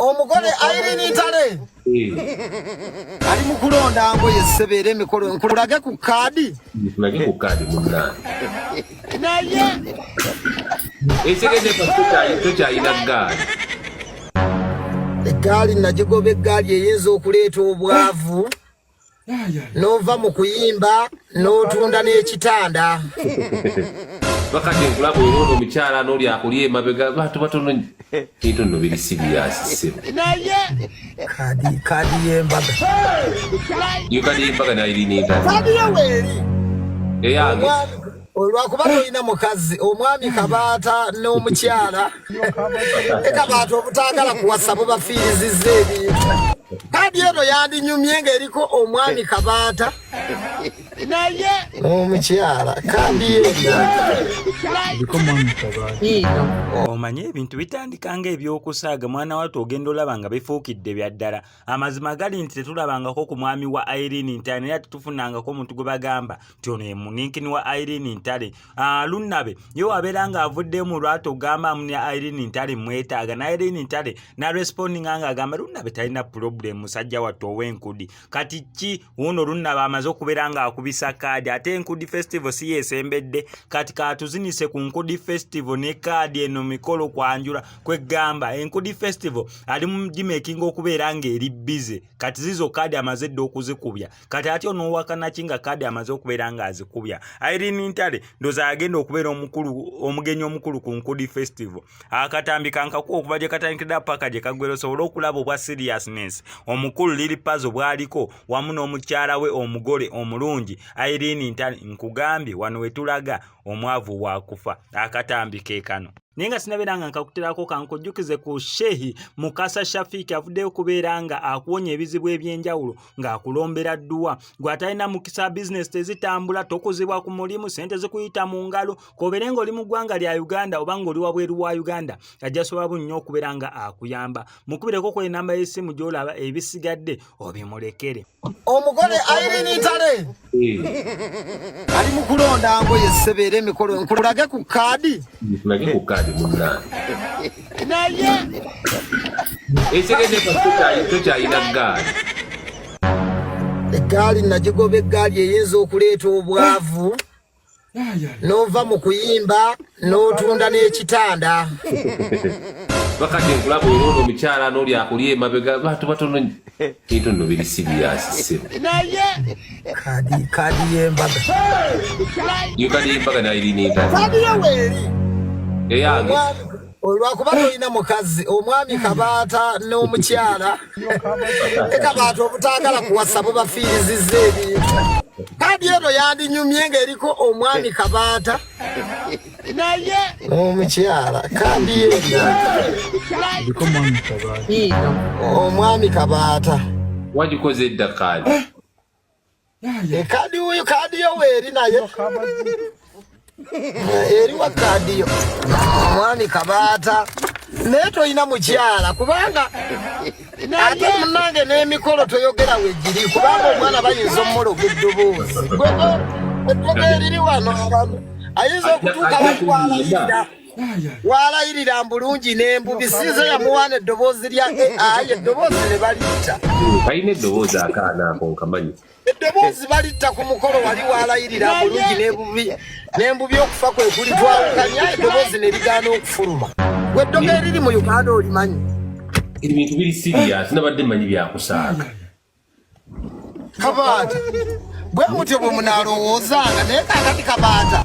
omugole Irene Ntale eh. ali mu kulonda ngoye sebera emikolo nkulage ku kaadi nkulage ku kaadi munnange naye ekitegezeekyokyayina ggaali eggaali nagigoba eggaali eyinza okuleeta obwavu nova mu kuyimba n'otunda n'ekitanda bakati nkulaba olwono omukyala n'oli akulya emabega bantu batono Into no biri serious sebo. Naye kadi kadi yembaga. Yo kadi yembaga na iri nita. Kadi yeweri. Eyange. olwakuba tolina mukazi omwami kabaata n'omukyala e kabaata obutaagala kuwasa bubafiiriziza ebintu kadi eno yandinyumye ng'eriko omwami kabaata naye omukyala kandi omanyi ebintu bitandika nga ebyokusaaga mwana watu ogenda olaba nga bifuukidde bya ddala amazima gali nti tetulabangako ku mwami wa irene ntale era tetufunangako omuntu gwe bagamba nti ono ye muninkini wa irene ntale ah, lunnabe ye wabeera nga avudde mu lwatu ogamba amuni irene ntale mwetaaga na irene ntale narespondinga nga agamba lunnabe talina pulobulemu musajja wattu ow'enkudi kati ki wuuno olunnaba amaze okubeera ng'akubisa kaadi ate enkudi festival si yeesembedde kati katuzinise ku nkudi festival ne kaadi eno mikolo kwanjula kweggamba enkudi festival ali mu gimekinga okubeera ng'eri bize kati zizo kaadi amaze dda okuzikubya kati ati onoowakanaki nga kaadi amaze okubeera ng'azikubya irene ntale ndoza agenda okubeera omukulu omugenyi omukulu ku nkudi festival akatambi kankakuwa okuva gye katandikidda paka gye kaggwera osobole okulaba obwa seriousness omukulu liri pazo bwaliko wamu n'omukyala we omugole omulungi airini ntani nkugambye wano wetulaga omwavu wakufa akatambi kekano naye nga sinabeera nga nkakuterako kankujjukize ku shehi mukasa shafiiki avuddeyo okubeera nga akuwonya ebizibu ebyenjawulo ng'akulombera dduwa gweatalina mukisa bizinesi tezitambula tokuzibwa ku mulimu sente zikuyita mu ngalo kobeere nga oli mu ggwanga lya uganda oba nga oli wabweru wa uganda ajja sobola bu nnyo okubeera nga akuyamba mukubireko ku enamba y'essimu gy'olaba ebisigadde obimulekere omugole airini ntale eh. ali mu kulonda ngoye sebeera emikolo nkulage ku kaadi nkulage ku kaadi munange naye ekigende tokyayina gaali eggaali nagigoba eggaali eyinza okuleeta obwavu nova mu kuyimba n'otunda n'ekitanda bakati nkulaba era ono omukyala n'oli akuli emabega bantu batono kintu no biri sibiyasiseo naye kadi kadi y'embaga yo kadi y'embaga nayo iri n'endala kadi yo weeri eyange olwakuba tolina mukazi omwami kabaata n'omukyala ne kabaata obutaagala kuwasa bubafiiriziza ebintu kadi eno yandinyumye ng'eriko omwami kabaata naye omukyala kadi eno omwami kabaata wagikoze edda kaadi Eh, kadi huyu kadi yo weri naye eri wa kadi yo mwami kabata naye tolina mukyala kubanga ate munange n'emikolo toyogera wegiri kubanga omwana bayinza omumuloga eddoboozi gwego eddogo eriri wano abantu ayinza okutuuka bakwala waalayirira mbulungi n'embubi sinze yamuwaana eddoboozi lya ai eddoboozi ne balitta kalina eddoboozi akaana ako nkamanyi eddoboozi balitta ku mukolo wali waalayirira mbulungi n'embubi n'embubi okufa kwe kuli twawukanya eddoboozi ne ligaana okufuluma gwe eddogo eriri mu uganda olimanyi ebintu biri siriyasi nabadde manyi byakusaaka kabaata bwe mutyo bwe munaalowoozaanga naye kakati kabaata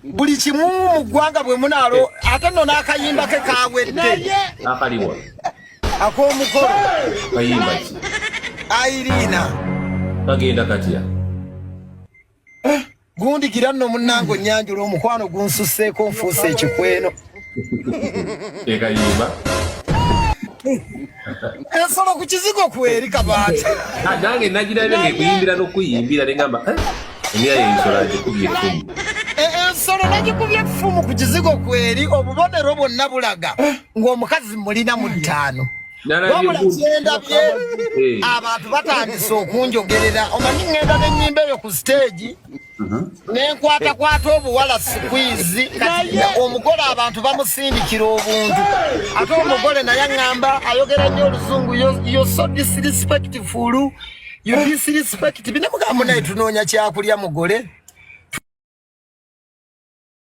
buli kimu mu ggwanga bwe munaalo ate nno n'akayimba ke kaawedde akaliwa ak'omukolo kayimba ki ayiriina kagenda katya Eh, gundi gira no munango nyanjula omukwano gunsuseko nfuse ekikweno ega yiba ensolo ku kizigo kweri kabaata ah, nange nagira ebyo ngekuyimbira nokuyimbira nengamba eh, emira yensolo agikubye efumu eh, ensolo nagikubye efumu ku kizigo kweri obubonero bwonna bulaga ng'omukazi mulina mu ttaano wabula kyendabye eh. abantu batandise okunjogerera omanyi ŋŋenda n'ennyimba eyo ku siteegi uh-huh. nenkwatakwata obuwala sikwizi omugole abantu bamusindikira obuntu ate omugole naye aŋŋamba ayogera nnyo oluzungu yo so disrespectful yo disrespect binamugambo naye tunoonya kyakulya mugole